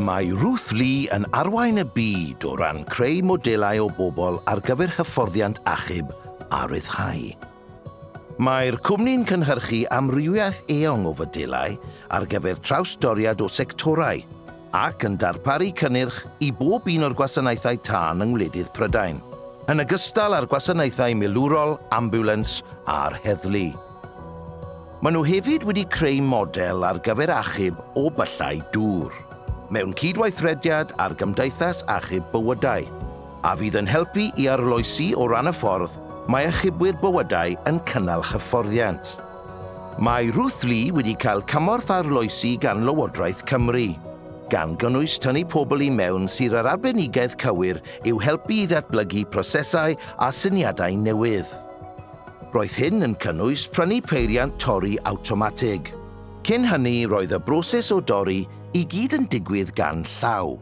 Mae Ruth Lee yn arwain y byd o ran creu modelau o bobl ar gyfer hyfforddiant achub a rhyddhau. Mae'r cwmni'n cynhyrchu amrywiaeth eang o fodelau ar gyfer trawsdoriad o sectorau ac yn darparu cynnyrch i bob un o'r gwasanaethau tân yng ngwledydd Prydain, yn ogystal â'r gwasanaethau milwrol, ambiwlans a'r heddlu. Maen nhw hefyd wedi creu model ar gyfer achub o byllau dŵr, mewn cydweithrediad â'r Gymdeithas Achub Bywydau, a fydd yn helpu i arloesi o ran y ffordd mae achubwyr bywydau yn cynnal hyfforddiant. Mae Ruth Lee wedi cael cymorth arloesi gan Lywodraeth Cymru, gan gynnwys tynnu pobl i mewn sy'r yr arbenigedd cywir i'w helpu i ddatblygu prosesau a syniadau newydd. Roedd hyn yn cynnwys prynu peiriant torri awtomatig. Cyn hynny roedd y broses o dorri i gyd yn digwydd gan llaw.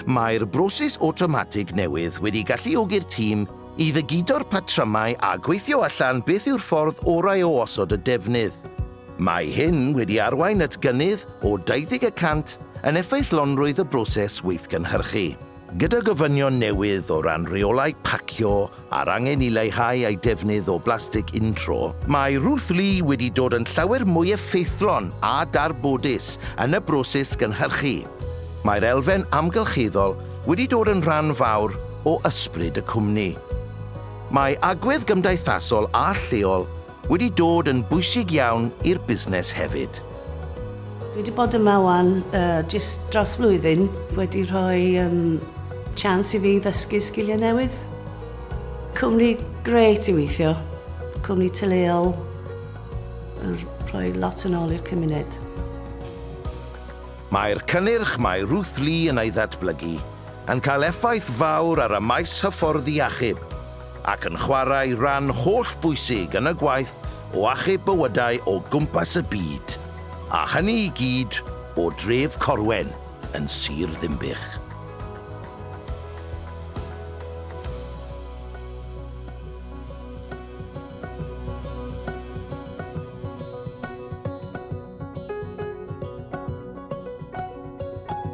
Mae'r broses awtomatig newydd wedi galluogi'r tîm i ddygido'r patrymau a gweithio allan beth yw'r ffordd orau o osod y defnydd. Mae hyn wedi arwain at gynnydd o 20 y cant yn effeithlonrwydd y broses weithgynhyrchu. Gyda gofynion newydd o ran rheolau pacio a'r angen i leihau ei defnydd o blastig untro, mae Ruth Lee wedi dod yn llawer mwy effeithlon a darbodus yn y broses gynhyrchu. Mae'r elfen amgylcheddol wedi dod yn rhan fawr o ysbryd y cwmni. Mae agwedd gymdeithasol a lleol wedi dod yn bwysig iawn i'r busnes hefyd. Dwi wedi bod yma wan jyst dros flwyddyn, wedi rhoi chance i fi ddysgu sgiliau newydd. Cwmni grêt i weithio, cwmni tyleol, yn rhoi lot yn ôl i'r cymuned. Mae'r cynnyrch mae Ruth Lee yn ei ddatblygu yn cael effaith fawr ar y maes hyfforddi achub, ac yn chwarae rhan holl bwysig yn y gwaith o achub bywydau o gwmpas y byd, a hynny i gyd o dref Corwen yn Sir Ddinbych.